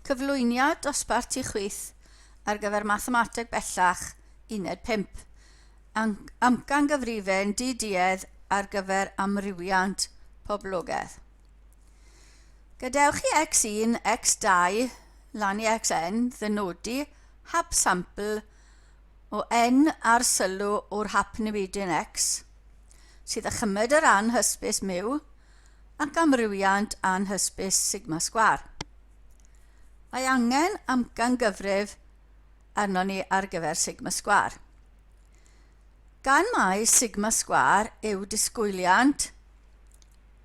Cyflwyniad dosbarth ti chwith ar gyfer Mathemateg Bellach Uned 5. Amcangyfrifon di-duedd ar gyfer amrywiant poblogaidd. Gadewch i X1, X2, lan i Xn ddynodi hap sampl o N ar sylw o'r hap newidyn X sydd â chymed yr anhysbys myw ac amrywiant anhysbys sigma sgwâr. Mae angen amcangyfrif arnon ni ar gyfer sigma sgwâr. Gan mai sigma sgwâr yw disgwyliant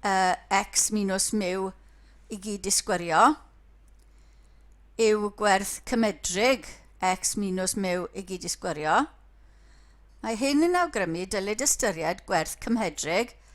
uh, x minus miw i gyd disgwyrio, yw gwerth cymedrig x minus miw i gyd disgwyrio, Mae hyn yn awgrymu dylid ystyried gwerth cymhedrig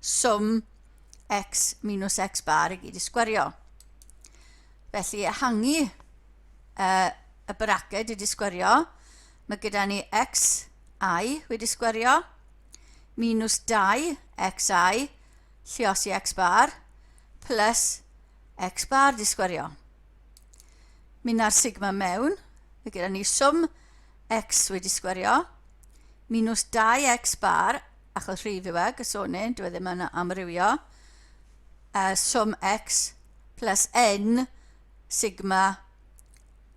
swm x minus x bar i gyd i sgwario. Felly ehangu uh, y braced wedi sgwario, mae gyda ni x i wedi sgwario, minus 2 x i, llios i x bar, plus x bar di sgwario. Mynd ar sigma mewn, mae gyda ni swm x wedi sgwario, minus 2x bar achos rhif yw e, gysonyn, dwi e ddim yn amrywio, uh, sum x plus n sigma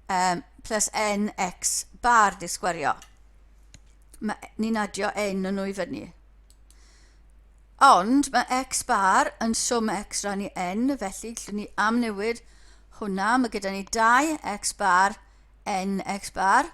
um, plus n x bar di sgwario. Ni'n adio n yn nhw i fyny. Ond mae x bar yn swm x ran i n, felly llwn ni amnewid hwnna. Mae gyda ni 2 x bar n x bar.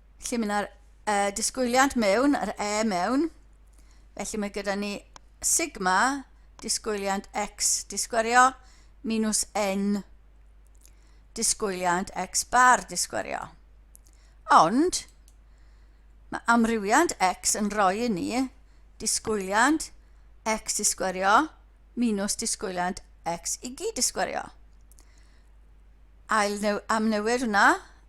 Felly mae yna'r uh, disgwyliad mewn, yr e mewn. Felly mae gyda ni sigma, disgwyliad x disgwyrio, minus n, disgwyliad x bar disgwyrio. Ond, mae amrywiad x yn rhoi i ni disgwyliad x disgwyrio minus disgwyliad x i gyd disgwyrio. Ail new, amnewid hwnna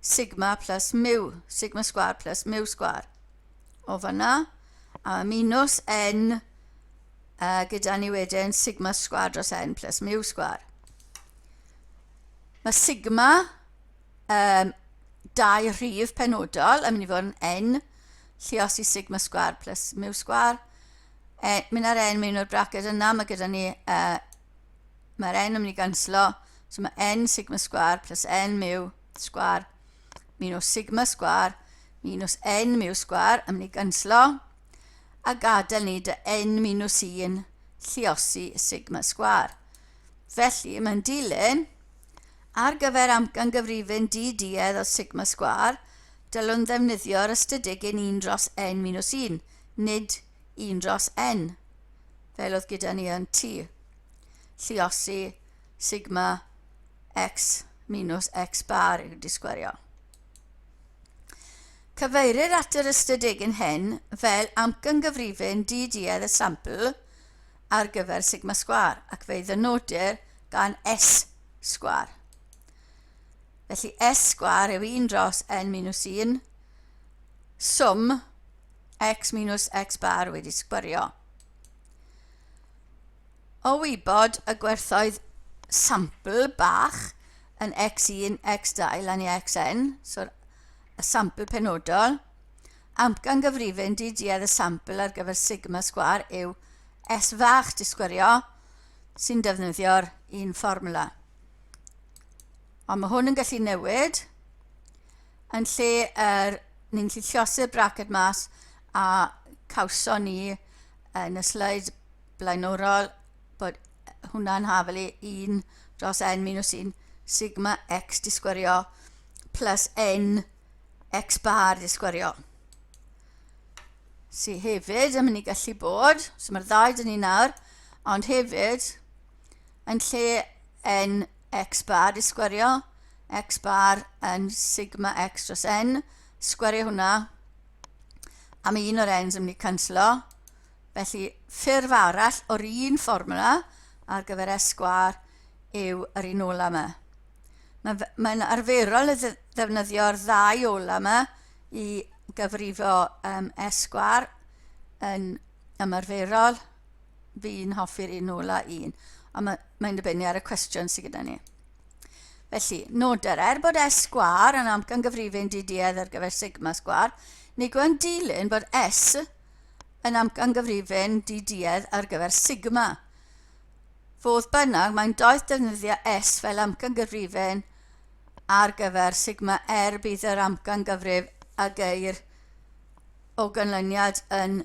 sigma plus mu, sigma sgwar plus mu sgwar. O fanna, a minus n a gyda ni wedyn sigma sgwar dros n plus mu sgwar. Mae sigma um, dau rhif penodol yn mynd i fod yn n, llios i sigma sgwar plus mu sgwar. E, mynd ar n mewn i'r braced yna, mae gyda ni uh, Mae'r n yn mynd i ganslo, so mae n sigma sgwar plus n miw sgwar minus sigma sgwar minus n miw sgwar yn mynd i ganslo a gadael ni dy n minus 1 lliosi sigma sgwar. Felly mae'n dilyn ar gyfer amcan gyfrifyn di-duedd o sigma sgwar, dylwn ddefnyddio'r ystadegyn 1 dros n-1, nid 1 dros n, fel oedd gyda ni yn t, lliosi sigma x minus x bar i'w disgwerio. Cyfeirir at yr ystadegyn hyn fel amcangyfrifyn di-duedd y sampl ar gyfer sigma sgwar ac fe'i ddynodir gan S sgwar. Felly S sgwar yw 1 dros n minus 1 swm x minus x bar wedi sgwario. O wybod y gwerthoedd sampl bach yn x1, x2 lan i xn, so'r y sampl penodol, amcan gyfrifyn di duedd y sampl ar gyfer sigma sgwar yw s fach di sgwario sy'n defnyddio'r un fformula. Ond mae hwn yn gallu newid, Yn lle yr ni'n gallu llosur braced mas a cawson ni yn y sleid blaenorol bod hwnna'n hafelu 1 dros n minus 1 sigma x di sgwerio plus n x bar di sgwerio. Sy hefyd yn mynd i gallu bod, so mae'r ddau dyn ni nawr, ond hefyd yn lle n x bar i sgwerio x bar yn sigma x dros n, sgwerio hwnna am un o'r n's yn mynd i canslo. Felly, ffurf arall o'r un fformula ar gyfer S sgwar yw yr un ola yma. Mae'n mae arferol y ddefnyddio'r ddau ola yma i gyfrifo um, S sgwar yn ymarferol fi'n hoffi'r un nôl a un, ond mae, mae'n dibynnu ar y cwestiwn sydd gyda ni. Felly, noder, er bod S sgwar yn amcangyfrifin diduedd ar gyfer sigma sgwar, nid yw'n dilyn bod S yn amcangyfrifin diduedd ar gyfer sigma. Fodd bynnag, mae'n doeth defnyddio S fel amcangyfrifin ar gyfer sigma er bydd yr amcangyfrif a geir o ganlyniad yn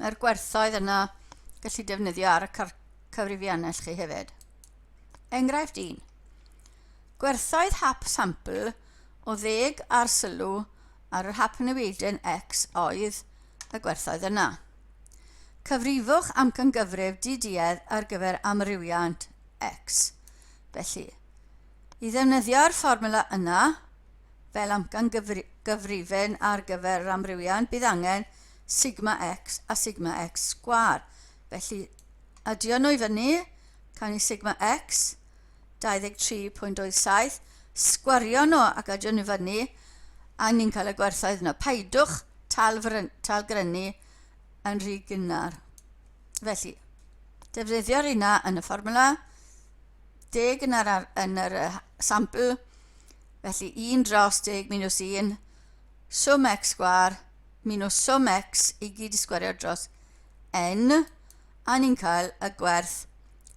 Mae'r gwerthoedd yna gallu defnyddio ar y cyfrifiannell chi hefyd. Enghraifft 1. Gwerthoedd hap sampl o ddeg ar sylw ar yr hap newidion X oedd y gwerthoedd yna. Cyfrifwch amcangyfrif diduedd ar gyfer amrywiant X. Felly, i ddefnyddio'r fformula yna, Fel amcangyfrifon ar gyfer yr amrywiaen, bydd angen sigma x a sigma x sgwâr. Felly, adio nhw i fyny, cawn ni sigma x, 23.27, sgwario nhw ac adio nhw i fyny, a ni'n cael y gwerthoedd yna. Paidwch talgrynu yn rhy gynnar. Felly, defnyddio'r yna yn y fformwla, 10 yn yr, yn yr uh, sampl, felly 1 dros 10 minus 1, swm x sgwar minus swm x i gyd i sgwario dros n, a ni'n cael y gwerth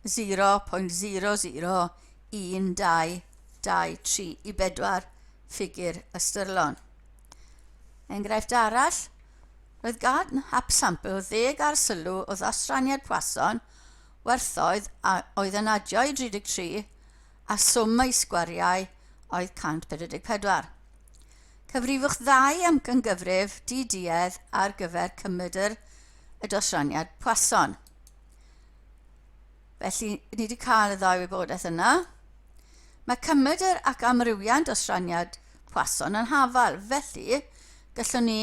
0.001223 i bedwar ffigur ystyrlon. Enghraifft arall, roedd gan hap sampl ddeg ar sylw o ddosraniad Poisson werthoedd a oedd yn adio i 33 a swm ei sgwariau oedd 144. Cyfrifwch ddau amcangyfrif di-duedd ar gyfer cymedr y dosraniad Poisson. Felly, ni wedi cael y ddau wybodaeth yna. Mae cymedr ac amrywiant dosraniad Poisson yn hafal, felly gallwn ni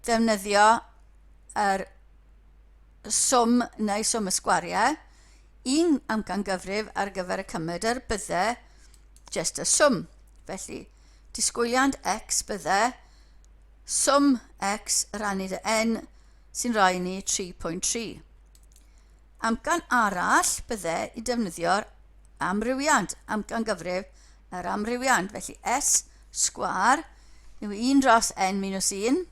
ddefnyddio yr swm neu swm y sgwariau, un amcangyfrif ar gyfer y cymed er bydde jest y swm. Felly, disgwyliant x bydde swm x rannu dy n sy'n rhoi ni 3.3. Amcan arall bydde i defnyddio'r amrywiant, amcangyfrif yr amrywiant, felly s sgwar yw 1 dros n minus 1,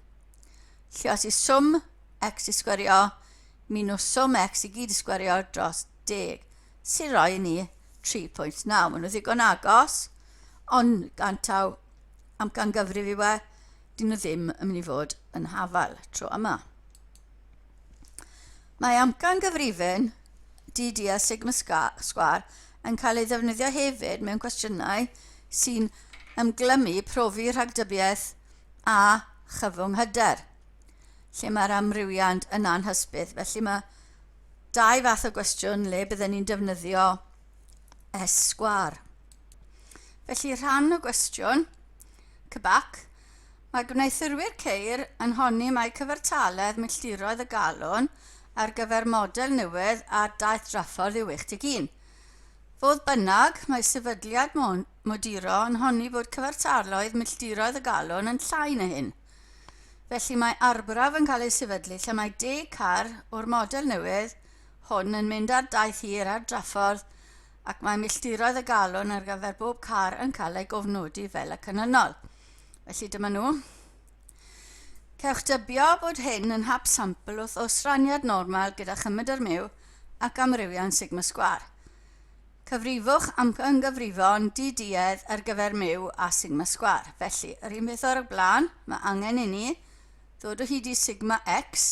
Lle os yw swm x i sgwerio minws swm x i gyd i sgwerio dros 10, sy'n rhoi i ni 3.9. Maen nhw ddigon agos, ond gan taw amcangyfrif i we, dyn nhw ddim yn mynd i fod yn hafal tro yma. Mae amcan gyfrifyn DD a sigma sgwar yn cael ei ddefnyddio hefyd mewn cwestiynau sy'n ymglymu profi rhagdybiaeth a chyfwng hyder, lle mae'r amrywiant yn anhysbys. Felly mae dau fath o gwestiwn le bydden ni'n defnyddio esgwar. Felly rhan o gwestiwn, cybac, mae gwneuthurwyr ceir yn honni mai cyfartaledd milltiroedd y galon ar gyfer model newydd ar daith draffordd yw 11. Fodd bynnag, mae sefydliad Moduro yn honni bod cyfartalloedd milltiroedd y galon yn llai na hyn. Felly mae arbraf yn cael ei sefydlu lle mae deg car o'r model newydd hwn yn mynd ar daith hir ar draffordd ac mae milltiroedd y galon ar gyfer bob car yn cael ei gofnodi fel y canlynol. Felly dyma nhw. Cewch dybio bod hyn yn hap sampl wrth osraniad normal gyda chymryd ar myw ac amrywian sigma sgwar. Cyfrifwch am gynghyfrifon di-duedd ar gyfer myw a sigma sgwâr. Felly, yr un peth o'r blaen, mae angen i ni ddod o hyd i sigma x,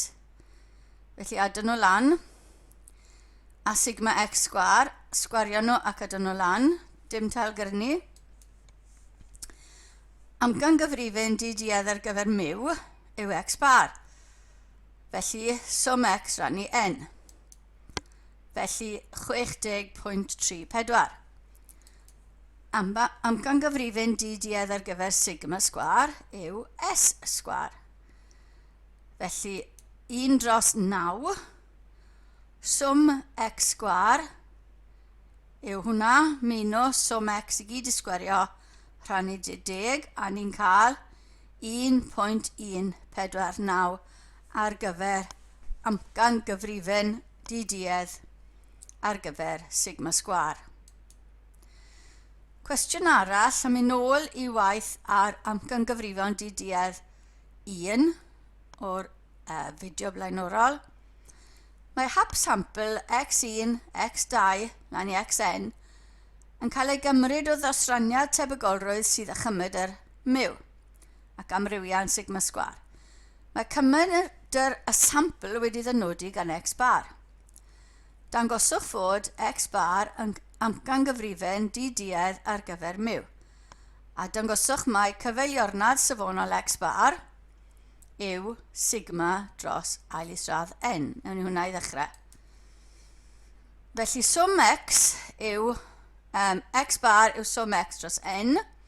felly adon nhw lan, a sigma x sgwâr, sgwario nhw ac adon nhw lan, dim tal gyrnu. Am gynghyfrifon di-duedd ar gyfer myw yw x bar, felly swm x rannu n. felly 60.34. Am, amcangyfrifyn diduedd ar gyfer sigma sgwar yw S sgwar. Felly 1 dros 9 swm x sgwar yw hwnna minus swm x i gyd i sgwario rhannu 10 a ni'n cael 1.149 ar gyfer amcangyfrifon di-duedd ar gyfer sigma sgwâr. Cwestiwn arall am yn ôl i waith ar amcangyfrifon di-duedd 1 o'r uh, fideo blaenorol. Mae hap sampl X1, X2, lan i Xn yn cael ei gymryd o ddosraniad tebygolrwydd sydd â chymryd yr myw. ac amrywiau yn sigma sgwâr. Mae cymunedr y sampl wedi ddynodi gan x bar. Dangoswch fod x bar yn amcangyfrifon di-duedd ar gyfer mu, a dangoswch mai cyfeiliornad safonol x bar yw sigma dros ail isradd n. Newn ni hwnna i ddechrau. Felly swm x yw um, x bar yw swm x dros n,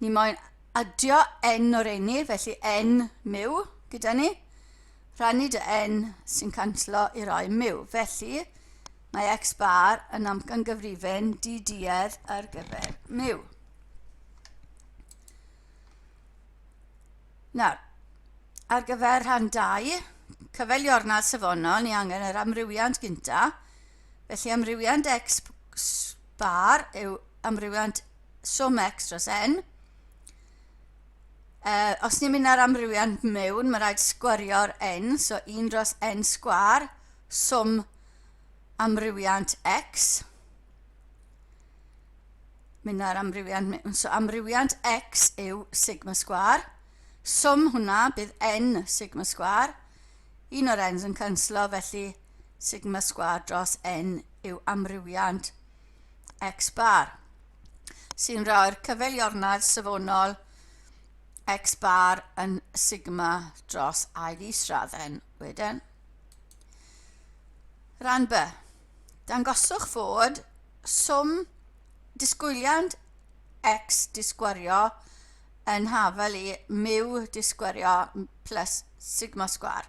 Ni moyn adio n o'r eni, felly n miw gyda ni. Rhannu dy n sy'n canslo i roi miw. Felly, mae x bar yn amcangyfrifyn di-duedd ar gyfer miw. Nawr, ar gyfer rhan 2, cyfeiliornau safonol, ni angen yr amrywiant gyntaf, Felly amrywiant x bar yw amrywiant swm x dros n. Uh, os ni'n mynd ar amrywiant mewn, mae rhaid sgwario'r n, so 1 dros n sgwar, swm amrywiant x. Mynd ar amrywiant mewn, so amrywiant x yw sigma sgwar. Swm hwnna bydd n sigma sgwar. Un o'r n's yn canslo, felly sigma sgwâr dros n yw amrywiant x bar, sy'n rhoi'r cyfeiliornau safonol x bar yn sigma dros i isradd n wedyn. Rhan B. Dangoswch fod swm disgwyliant x disgwario yn hafel i mu disgwario plus sigma sgwar.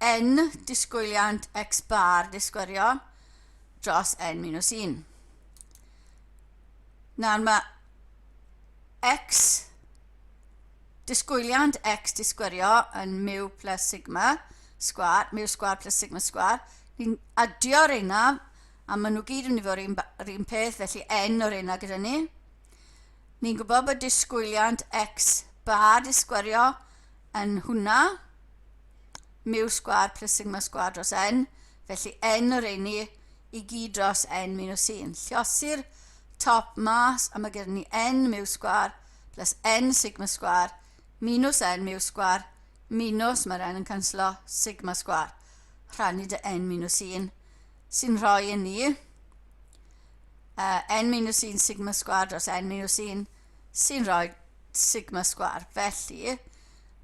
N, disgwyliant x bar disgwyrio dros n-1. Nawr mae x, disgwyliant x disgwyrio yn mu plus sigma sgwar, mu sgwar plus sigma sgwar. Ni'n adio reina, a maen nhw gyd yn mynd i fod yr un peth, felly n o'r reina gyda ni. Ni'n gwybod bod disgwyliant x bar disgwyrio yn hwnna, mu sgwâr plus sigma sgwâr dros n, felly n o reini i gyd dros n minus 1. Lliosi'r top mas a mae gen ni n mu sgwâr plus n sigma sgwâr minus n mu sgwâr minus mae'r n yn canslo sigma sgwâr rhannu dy n minus 1 sy'n rhoi i ni uh, n minus 1 sigma sgwâr dros n minus 1 sy'n rhoi sigma sgwâr. Felly,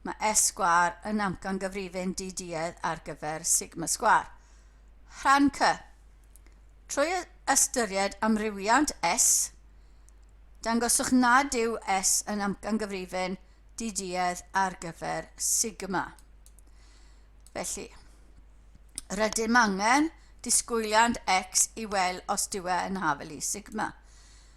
mae S sgwâr yn amcangyfrifin diduedd ar gyfer sigma sgwâr. Rhan C. Trwy ystyried amrywiant S, dangoswch nad yw S yn amcangyfrifin diduedd ar gyfer sigma. Felly, rydym angen disgwyliant x i weld os dyw e yn hafel i sigma.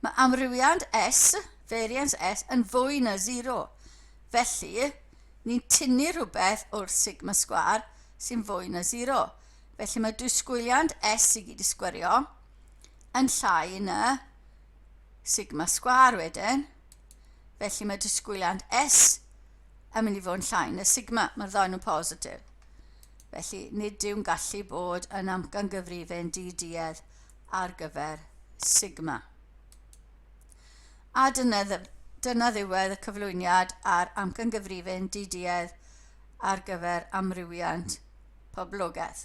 Mae amrywiad S, variance S, yn fwy na sero. Felly, ni'n tynnu rhywbeth o'r sigma sgwâr sy'n fwy na sero. Felly mae dwysgwyliant S i gyd i sgwerio yn llai na sigma sgwâr wedyn. Felly mae dwysgwyliant S yn mynd i fod yn llai na sigma. Mae'r ddau nhw'n positif. Felly, nid yw'n gallu bod yn amcangyfrifyn di-duedd ar gyfer Sigma. A dyna, dyna ddiwedd y cyflwyniad ar amcangyfrifyn DDEdd ar gyfer amrywiant poblogaeth.